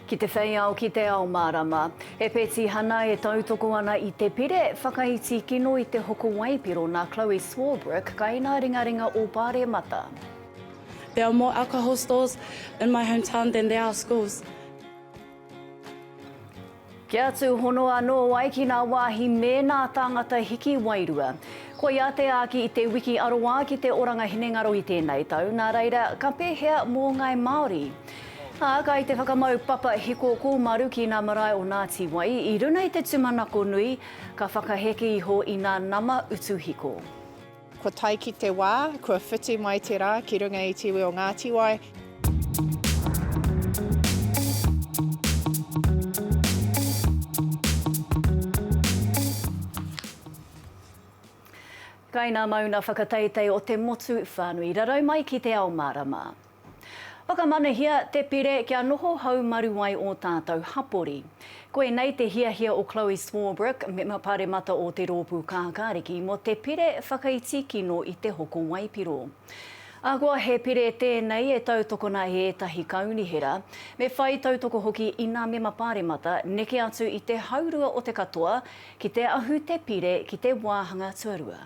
Ki te whei ao ki te ao mārama. He petihana e tautoko ana i te pire, whakaiti kino i te hoko waipiro nā Chloe Swarbrick, kainā ringaringa o Pāremata. There are more alcohol stores in my hometown than there are schools. Kia tūhono anō ai ki ngā wāhi mēnā tāngata hiki wairua. Koia te āki i te wiki aroā ki te oranga hinengaro i tēnei tau, nā reira, ka pēhea mō ngāi Māori? Ā, kai te whakamau papa hiko kōmaru ki ngā marae o Ngāti Wai, i runga i te tūmanako nui, ka whakaheke iho i ngā nama utu hiko. Kua tae ki te wā, kua whiti mai te rā ki runga i te iwi o Ngāti Wai. Kainamauna whakateitei o te motu whānui. Rarau mai ki te ao mārama. Whakamanahia te pire kia noho haumaru ai ō tātou hapori. Koinei te hiahia o Chloe Swarbrick, Mema Pāremata o Te Rōpū Kākāriki mō te pire whakaiti kino i te hoko waipiro. Ahakoa he pire tēnei e tautokona e ētahi kaunihera, me whai tautoko hoki ina Mema Pāremata neke atu i te haurua o te katoa ki te ahu te pire ki te wāhanga tuarua.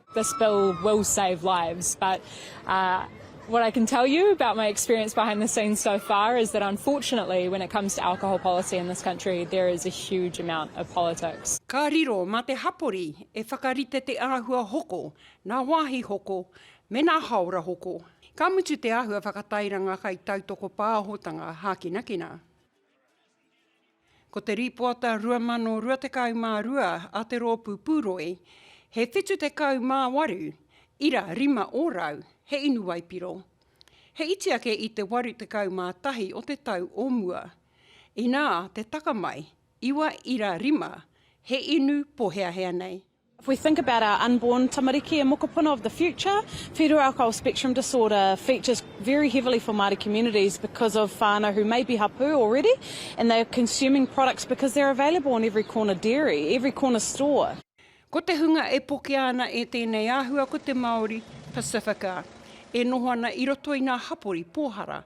This bill will save lives but what I can tell you about my experience behind the scenes so far is that unfortunately when it comes to alcohol policy in this country there is a huge amount of politics. Ka riro mā te hapori e whakarite te āhua hoko, nā wāhi hoko, me nā hāora hoko, ka mutu te āhua whakatairanga kai tautoko pāhotanga hākinakina. Ko te rīpoata 2022 a te rōpū Pūroi, he 78 ira 500 he inu waipiro, he iti ake i te 81 o te tau o mua, inā te taka mai, iwa ira rima he inu pōheahea nei. If we think about our unborn tamariki and mokopuna of the future, wheruakau, spectrum disorder, features very heavily for Māori communities because of whānau who may be hapū already and they are consuming products because they are available on every corner dairy, every corner store. Ko te hunga e pokea ana e tēnei āhua ko te Māori, Pacifica, e noho ana i roto i ngā hapori pōhara,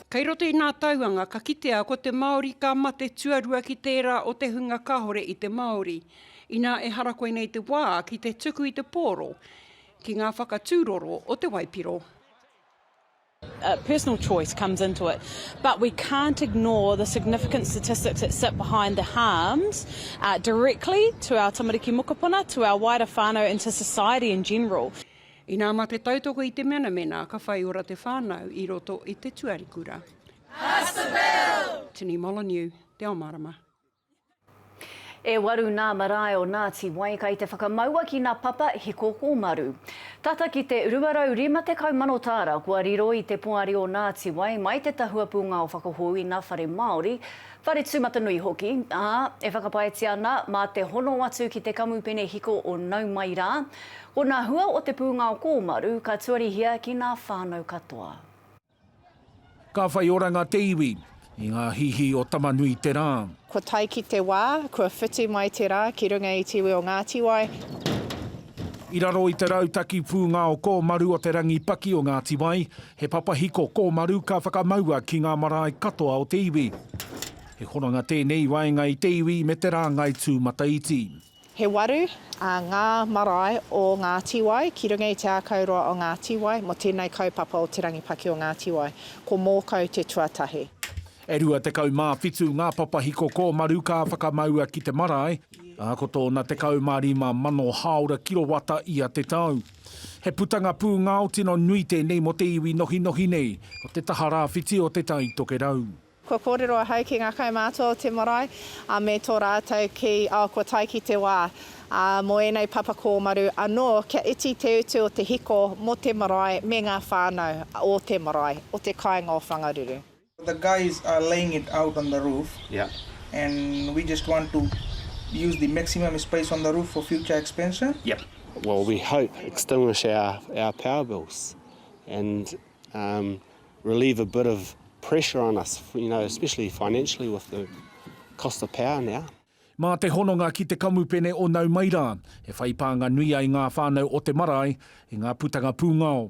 Kei roto i ngā tauanga ka kitea ko te Māori ka mate tuarua ki tērā o te hunga kāore i te Māori. Inā ehara koinei te wā ki te tuku i te pōro ki ngā whakatūroro o te waipiro. personal choice comes into it but we can't ignore the significant statistics that sit behind the harms directly to our tamariki mokopuna, to our wider whānau and to society in general. Inā mā te tautoko i te menamena ka whai ora te whānau i roto i te tuari kura. Pass the bill! Tini Molyneux, Te Ao Marama. E waru nā marae o Ngāti Wai kai te whakamaua ki nā Papa Hiko Kōmaru. Tata ki te 250 mano tāra kua riro i te Poari o Ngāti Wai mai te Tahua Pūngao Whakahou i nā Whare Māori, Whare tūmatanui hoki, ā, e whakapaetia ana mā te hono atu ki te kamupene hiko o nau mai rā. Ko ngā hua o te pūngao kōmaru ka tuarihia ki ngā whānau katoa. Ka whai oranga te iwi. I ngā hihi o Tama-nui-te-rā. Kua tae ki te wā, kua whiti mai te rā ki runga i te iwi o Ngāti Wai. I raro i te rautaki pūngao kōmaru o te rangi paki o Ngāti Wai, He papahiko kōmaru ka whakamaua ki ngā marae katoa o te iwi. He hononga tēnei i waenga i te iwi me te rāngai tūmataiti. He waru ngā marae o ngā tīwai ki runga i te ākau roa o ngā tīwai mō tēnei kaupapa o Te Rangipaki o ngā Tīwai. Ko Mōkau te tuatahi. E rua tekau mā whitu ngā papahiko kōmaru ka whakamaua ki te marae, ā, ko tōna tekau mā rima mano hāora kirowata ia te tau. He putanga pūngao tino nui tēnei mō te iwi nohinohi nei o te taha rāwhiti o Te Tai Tokerau. Kua kōrero ahau ki ngā kaumātua o te marae, ā, me tō rātou ki, ā, kua tae ki te wā, ā, mō ēnei papa kōmaru anō kia iti te utu o te hiko mō te marae me ngā whānau o te marae, o te kāinga o Whangaruru. The guys are laying it out on the roof and we just want to use the maximum space on the roof for future expansion. Well we hope extinguish our our power bills and um relieve a bit of pressure on us you know especially financially with the cost of power now. Mā te hononga ki te kamupene o Nau Mai rā, e whai pānga nui ai ngā whānau o te marae i ngā putanga pūngao.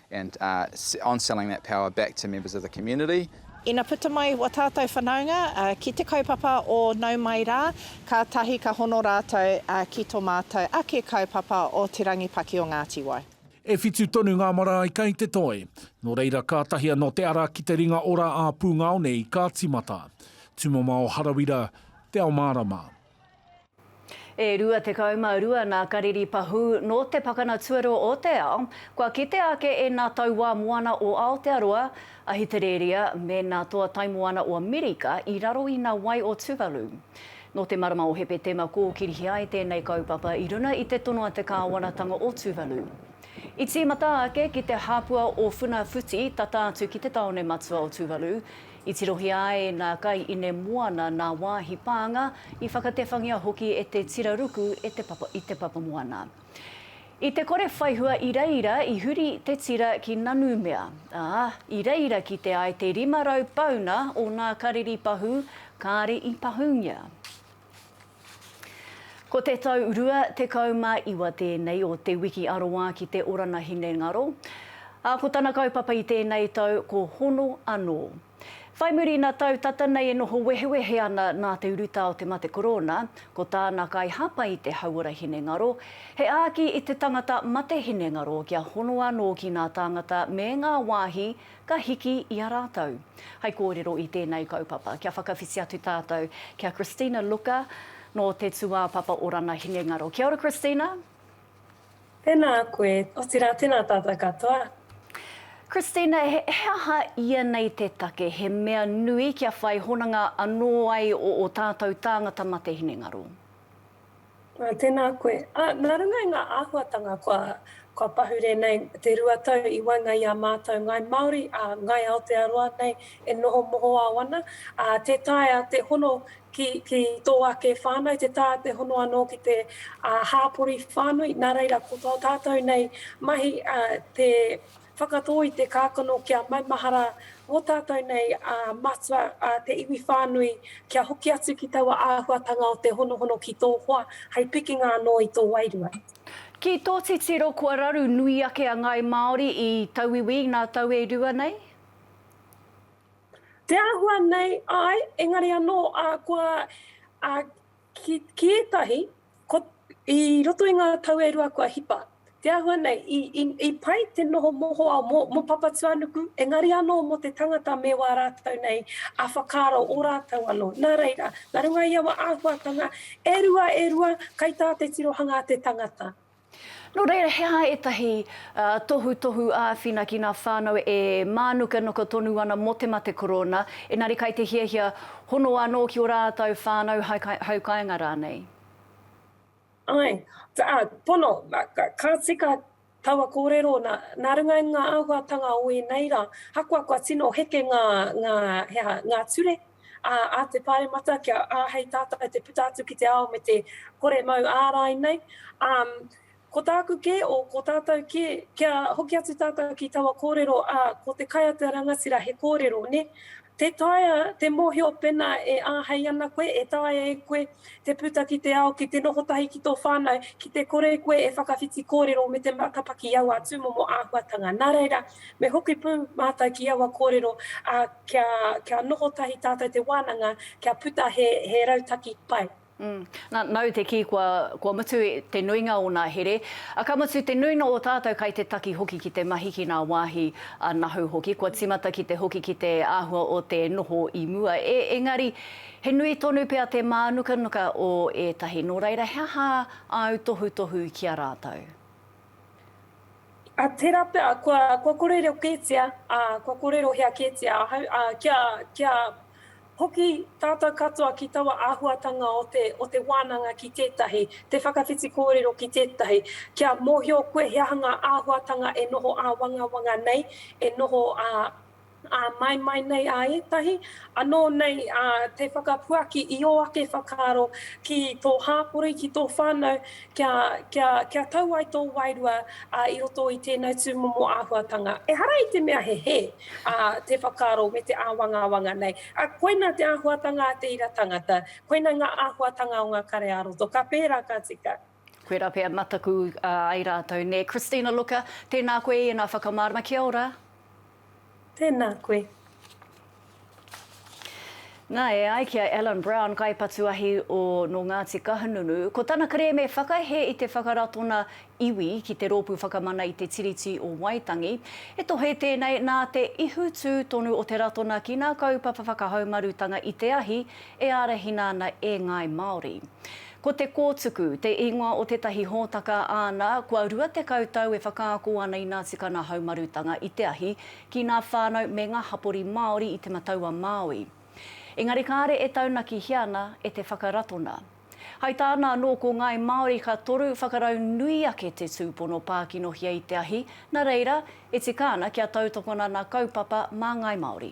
and on selling that power back to members of the community. Ina puta mai o tātou whanaunga ki te kaupapa o Nau Mai Rā, kātahi ka hono rātou ki tō mātou ake kaupapa o Te Rangi Paki o Ngāti Wai. E whitu tonu ngā marae kei te toe, nō reira kātahi anō te ara ki te ringa ora ā-pūngao nei ka tīmata. Tūmamao Harawira, Te Ao Mārama. E rua tekau ma rua nā kariri pahū nō Te Pakana Tuarua o te Ao kua kitea ake e nā tauwā moana o Aotearoa, Ahitereria me nā toa taimoana o Amerika i raro i nā wai o Tuvalu. Nō te marama o Hepetema kōkirihi ai tēnei kaupapa i runga i te tono a te kāwanatanga o Tuvalu. I tīmata ake ki te hāpua o Funafuti tata atu ki te taone matua o Tuvalu, I tirohia ai ngā kai ine moana nā wāhi pānga, i whakatewhangia hoki e te tira ruku i te papamoana. I te kore whaihua i reira i huri te tira ki Nanumea, ā, i reira kite ai te 500 pauna o ngā kariri pahū kāre i pahūngia. Ko te tau 29 tēnei o Te Wiki Aroā ki te Orana Hinengaro, ā, ko tana kaupapa i tēnei tau ko Hono Anō. Whai muri i nā tau tata nei e noho wehewehe ana nā te urutā o te mate korōna, ko tāna kai hapa i te hauora hinengaro, he āki i te tangata mate hinengaro kia hono anō ki nā tāngata me ngā wāhi ka hiki i a rātou hai kōrero i tēnei kaupapa. Kia whakawhiti atu tātou ki a Christina Luka nō te tūāpapa Orana Hinengaro. Kia ora Christina. Tēnā koe, otirā tēnā tātou katoa. Christina, he aha ianei te take, he mea nui kia whai honanga anō ai o ō tātou tāngata mate hinengaro? Tēnā koe. Nā runga i ngā āhuatanga kua pahure nei te rua tau i waenga i a mātou Ngāi Māori, Ngāi Aotearoa nei e noho mohoao ana, tē taea te hono ki tō ake whānau, tē taea te hono anō ki te hāpori whānui, nā reira ko tō tātou nei mahi te Whakatō i te kākano kia maumahara mō tātou nei a Matua, a te iwi whānui, kia hoki atu ki taua āhuatanga o te honohono ki tō hoa hei pikinga anō i tō wairua. Ki tō titiro kua raru nui ake a ngāi Māori i tauiwi i ngā tau e rua nei? Te āhua nei, āe, engari anō, ā, kua, ā, Ki ētahi, i roto i ngā tau e rua kua hipa, te āhua nei, i pai te noho mohoao mō Papatuanuku, engari anō mō te tangata me wā rātou nei a whakaaro o rātou anō. Nā reira, nā runga i aua āhuatanga e rua e rua, kai tā te tirohanga te tangata. Nō reira, he aha ētahi tohutohu āwhina ki ngā whānau e mānukanoko tonu ana mō te mate korona, engari kai te hiahia hono anō ki ō rātou whānau haukāinga rānei? Āe, pono, ka tika taua kōrero nā runga i ngā āhuatanga o ēnei rā, akoa kua tino heke ngā ture, ā, ā te Pāremata kia āhei tātou te puta atu ki te ao me te kore mau ārai nei. Ā, ko tāku kē, o ko tātou kē, kia hoki atu tātou ki taua kōrero, ā, ko te kai a te rangatira he kōrero, nē. Tē taea te mōhio pēnā e āhei ana koe, e taea e koe te puta ki te ao ki te noho tahi ki tō whānau, ki te kore koe e whakawhiti kōrero me te matapaki i aua tūmomo āhuatanga. Nā reira, me hoki pū mātou ki aua kōrero, ā, kia, kia noho tahi tātou te wānanga, kia puta he, he rautaki pai. Mm. Na, nau te kī kua, kua mutu te nuinga o nā here, a ka mutu te nuinga o tātou kai te taki hoki ki te mahi ki nā wāhi a nahu hoki, kua tīmata ki te hoki ki te āhua o te noho i mua. E, engari, he nui tonu pea te mānukanuka o ētahi, nō reira he aha āu tohutohu ki a rātou? A tera pea kua kua korero ketia a kua korero hea ketia ahau a kia kia hoki tatou katoa ki taua ahuatanga o te o te wananga ki tetahi te whakawhiti korero ki tetahi kia mohio koe he aha nga ahuatanga e noho awangawanga nei e noho a Ā, mai mai nei a ētahi, anō nei ā te whakapuaki i ō ake whakaaro ki tō hāpori, ki tō whānau, kia, kia, kia tau ai tō wairua ā, i roto i tēnau tūmomo āhuatanga. Ehara i te mea he hē ā te whakaaro me te āwangawanga nei. Ā, koina te āhuatanga a te ira tangata, koina ngā āhuatanga o ngā kare ā-roto, ka pērā ka tika. Koira pea mataku ai ratou ne. Christina Luka, tēnā koe i ēnā whakamārama, kia ora. Tēnā koe. Na, e ai ki a Alan Brown, Kaipatuahi o nō Ngāti Kahungunu, ko tana kerēme whakahē i te whakaratona iwi ki te Rōpū Whakamana i te Tiriti o Waitangi, he tohe tēnei nā te ihutū tonu o te ratona ki nā kaupapa whakahaumarutanga i te ahi e ārahina ana e Ngāi Māori. Ko te kōtuku, te ingoa o tētahi hōtaka āna kua 20 tau e whakaako ana inā tika nā haumarutanga i te ahi ki nā whānau me ngā hapori Māori i Te Matau-a-Māui. Engari kāre e taunakihia ana e te whakaratona. Hai tāna anō ko Ngāi Māori ka toru whakarau nui ake te tūpono pākinohia i te ahi, na reira, e tika ana kia tautokona nā kaupapa mā Ngāi Māori.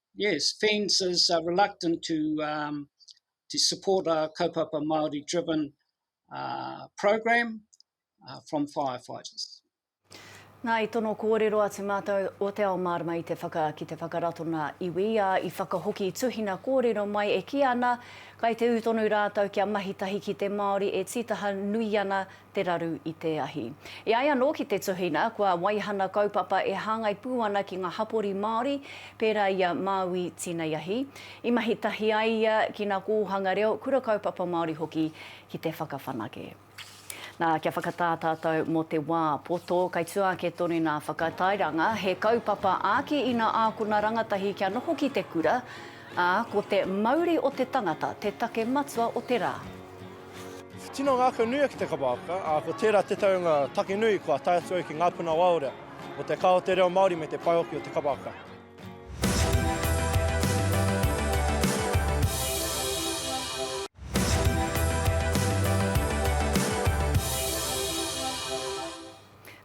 Yes, FENZ is uh, reluctant to um, to support a kaupapa Māori driven uh, program uh, from firefighters. Nā, i tono kōrero atu mātou o Te Ao Mārama i te whaka ki te whakarato nā iwi, ā, i whakahoki tuhina kōrero mai e kī ana, kai te ū tonu rātou kia mahi tahi ki te Māori e tītaha nui ana te raru i te ahi. E ai anō ki te tuhinga, kua waihana kaupapa e hāngai pū ana ki ngā hapori Māori, pērā i a Māui Tinei Ahi, i mahi tahi ai ia ki nā kōhanga reo, kura kaupapa Māori hoki ki te whakawhanake. Nā, kia whakatā tātou mō te wā poto, kai tua ake tonu nā Whakatairanga, he kaupapa āki ina ākona rangatahi kia noho ki te kura, ā, ko te mauri o te tangata te take matua o te rā. Tino ngākau nui ake te kapa haka, ā, ko tērā te taunga take nui kua tae atu ai ki ngā puna o Aorea, ko te kaha o te reo Māori me te pai hoki o te kapa haka.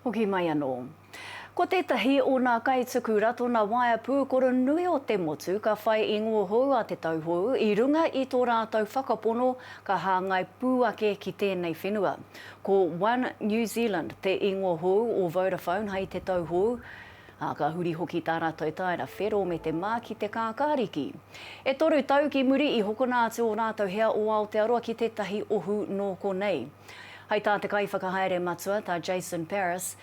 Hoki mai anō. Ko tētahi o nā kaituku ratona waea pūkoro nui o te motu ka whai i ngō hou a Te Tauhou i runga i tō rātou whakapono ka hāngai pū ake ki tēnei whenua. Ko One New Zealand te īngoa hou o Vodafone hai Te Tauhou, ā, ka huri hoki tā rātou taera whero me te mā ki te kākāriki. E toru tau ki muri i hokona atu ō rātou hea o Aotearoa ki tētahi ohu nō konei. Hai tā te kaiwhakahaere matua, tā Jason Paris,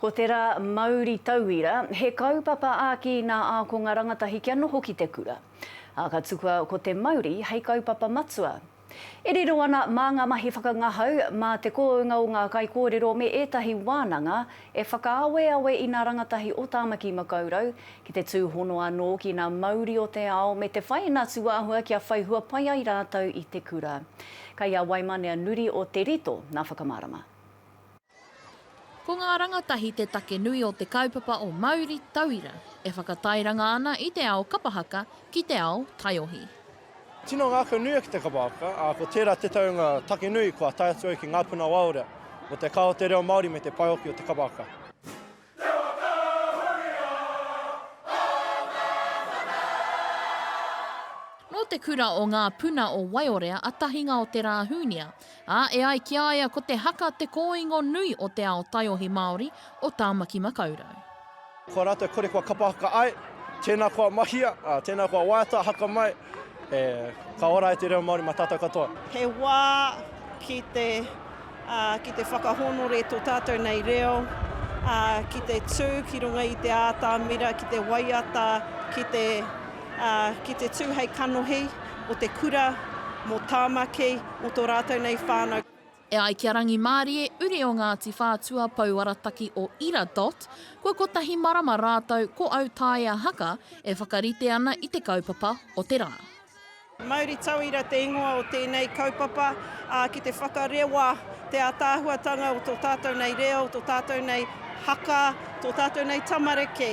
Ko te rā mauri tauira, he kaupapa āki nā ākonga rangatahi kia noho ki te kura. Ā, ka tukua ko te mauri hei kaupapa matua. E riro ana mā ngā mahi whakangahau, mā te kounga o ngā kaikōrero me ētahi wānanga e whakaaweawe i nā rangatahi o Tāmaki Makaurau ki te tūhono anō ki nā mauri o te ao me te whaina tūāhua kia whai hua pai ai rātou i te kura. Kei a Waimane a Nuri o Te Rito nā whakamārama. Ko ngā rangatahi te take nui o te kaupapa o Mauri Tauira, e whakatairanga ana i te ao kapa haka ki te ao taiohi. Tino ngākau nui ake te kapa haka, ā, ko tērā tētahi o ngā take nui kua tae atu ai ki ngā puna waeorea, mō te kaha o te reo Māori me te paehoki o te kapa haka. Nō te kura o Ngā Puna o Waiorea a Tahinga o Te Rāhūnia, ā, e ai ki a ia ko te haka te kōingo nui o te ao taiohi Māori o Tāmaki Makaurau. Kua rātou kore kua kapa haka ai, tēnā kua mahia, tēnā kua waiata haka mai. E, ka ora e te reo Māori ma tātou katoa. He wā ki te, ā, ki te whakahōnore tō tātou nei reo, ā, ki te tū ki runga i te ātamira, ki te waiata, ki te, ā, ki te tū hei kanohi mō te kura, mō Tāmaki, mō tō rātou nei whānau. E ai ki a Rangimārie Uri o Ngāti Whātua Pouarataki o Ira dot, Kua kotahi marama rātou ko Autaia haka e whakarite ana i te kaupapa o te rā. Mauri tauira te ingoa o tēnei kaupapa, ā, ki te whakarewa te ātaahuatanga o tō tātou nei reo, tō tātou nei haka, tō tātou nei tamariki.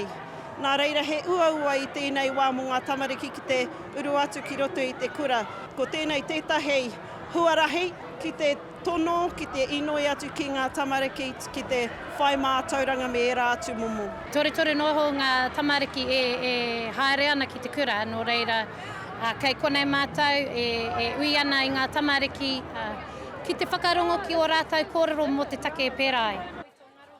Nā reira he uaua i tēnei wā mō ngā tamariki ki te uru atu ki roto i te kura. Ko tēnei tētahi. Huarahi ki te tono, ki te inoi atu ki ngā tamariki ki te whai mātauranga me ērā atu momo. Torutoru noho ngā tamariki e haere ana ki te kura, nō reira kei konei mātou e ui ana i ngā tamariki ki te whakarongo ki ō rātou kōrero mō te take e pērā ai.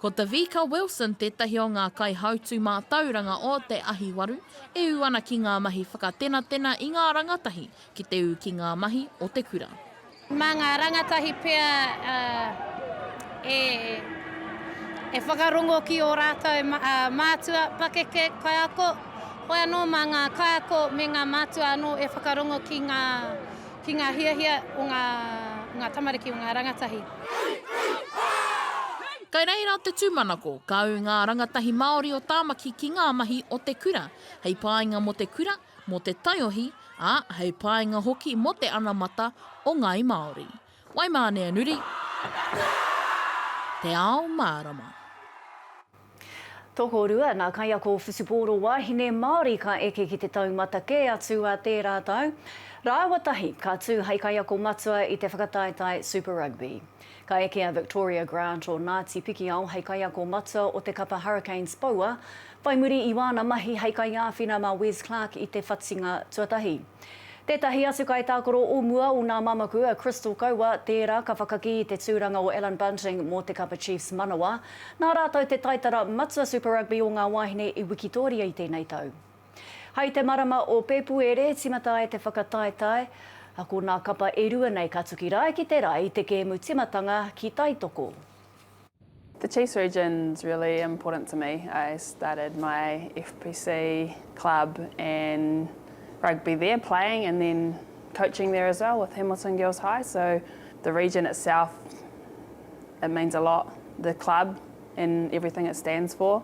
Ko Tavika Wilson tētahi o ngā kaihautū mātauranga o Te Ahiwaru e ū ana ki ngā mahi whakatenatena i ngā rangatahi Ki te ū ki ngā mahi o te kura. Mā ngā rangatahi pea e whakarongo ki ō rātou mātua, pakeke, kaiako, whai anō mā ngā kaiako me ngā mātua anō e whakarongo ki ngā hiahia o ngā tamariki, o ngā rangatahi. Kei reira te tūmanako, ka ū ngā rangatahi Māori o Tāmaki ki ngā mahi o te kura, hei pāinga mō te kura, mō te taiohi, ā, hei painga hoki mō te anamata o ngāi Māori. Waimāneanuri, Te Ao Mārama. Tokorua, nā kaiako whutupōro wāhine Māori ka eke ki te taumata kē atu a tērā tau. Rāua tahi, ka tū hei kaiako matua i te whakataetae Super Rugby. Ka eke a Victoria Grant o Ngāti Pikiao hei kaiako matua o te kapa Hurricanes Poua, whai muri i wāna mahi hei kaiāwhina mā Wes Clarke i te whatinga tuatahi. Tētahi atu kaitākaro o mua o nā Mamaku a Crystal Kaua tērā ka whakakī i te tūranga o Alan Bunting mō te kapa Chiefs manawa. Nā rātou te taitara matua Super Rugby o ngā wāhine i wikitōria i tēnei tau. Hai te marama o Pepuere timata ai te whakataetae, a ko nā kapa e rua nei ka tuki rae ki te rae i te kēmu timatanga ki Taitoko. The Chiefs region's really important to me, I started my FPC club and rugby there playing and then coaching there as well with Hamilton Girls High so the region itself it means a lot, the club and everything it stands for.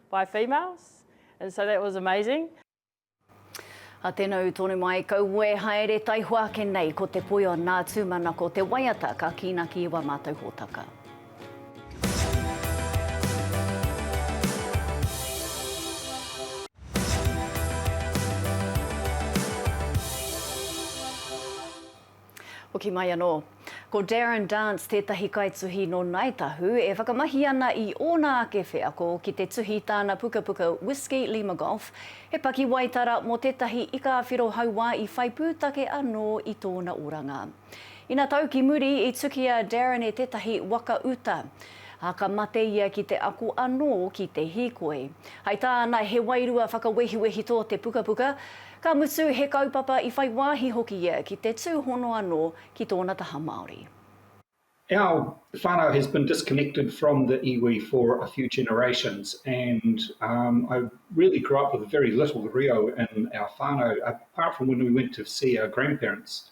by females and so that was amazing. A tena u tonu mai, kau we haere taihua ake nei ko te poi o na tumanako te waiata ka kina ki wa matou hotaka. Hoki mai anō. Ko Darren Dance tētahi kaituhi nō Ngāi Tahu e whakamahi ana i ōna ake wheako ki te tuhi tāna pukapuka Whisky Lima Golf, he pakiwaitara mō tētahi ikāwhiro hauā i whai pūtake anō i tōna oranga. Ina tau ki muri i tuki a Darren e tētahi waka uta, ā, ka mate ia ki te ako anō ki te hīkoi. Hai tāna he wairua whakawehiwehi tō te pukapuka, Ka mutu, he kaupapa i whai wāhi hoki ia ki te tūhono anō ki tōna taha Māori. Our whanau has been disconnected from the iwi for a few generations and I really grew up with very little reo in our whanau apart from when we went to see our grandparents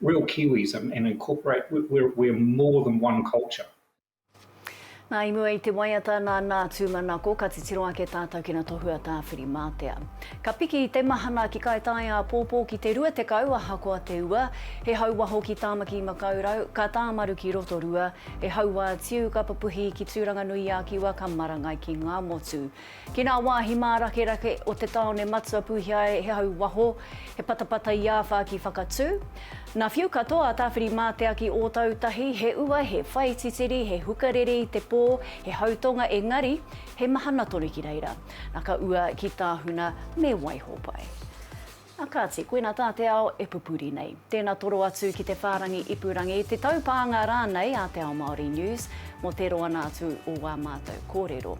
real Kiwis and and incorporate we we're we're more than one culture. Nā, i mua i te waiata nā nā tūmanako, ka titiro ake tātou ki nā tohua tāwhiri-mātea. Ka piki te mahana ki Kaitaia-ā-pōpō ki te 20 ahakoa te ua, he hau waho ki Tāmaki-makau-rau, ka tāmaru ki Rotorua, he hau wātiu ka papuhi ki Tūranganui-ā-Kiwa ka marangai ki Ngāmotu. Ki ngā wāhi mārakerake o te tāone matua pūhia e He Hau Waho, he patapata i āwhā ki Whakatū. Nā whiu katoa a Tāwhirimātea ki Ōtautahi, he ua, he whai titiri, he hukarere i te pō, he hau tonga engari, he mahana tonu ki reira. Nā ka ua ki Tāhuna me Waihopai. Ā kāti, koina tā te ao e pupuri nei. Tēnā toro atu ki te whārangi ipurangi, te taupānga rānei a Te Ao Māori News mō te roanga atu o wā mātou kōrero.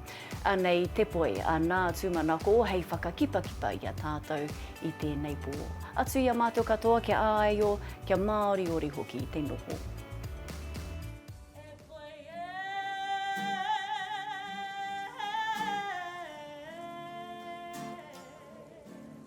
Anei te poi a Nā Tūmanako hei whakakipakipa i a tātou i tēnei pō. Atu i a mātou katoa kia āio, kia māoriori hoki te noho.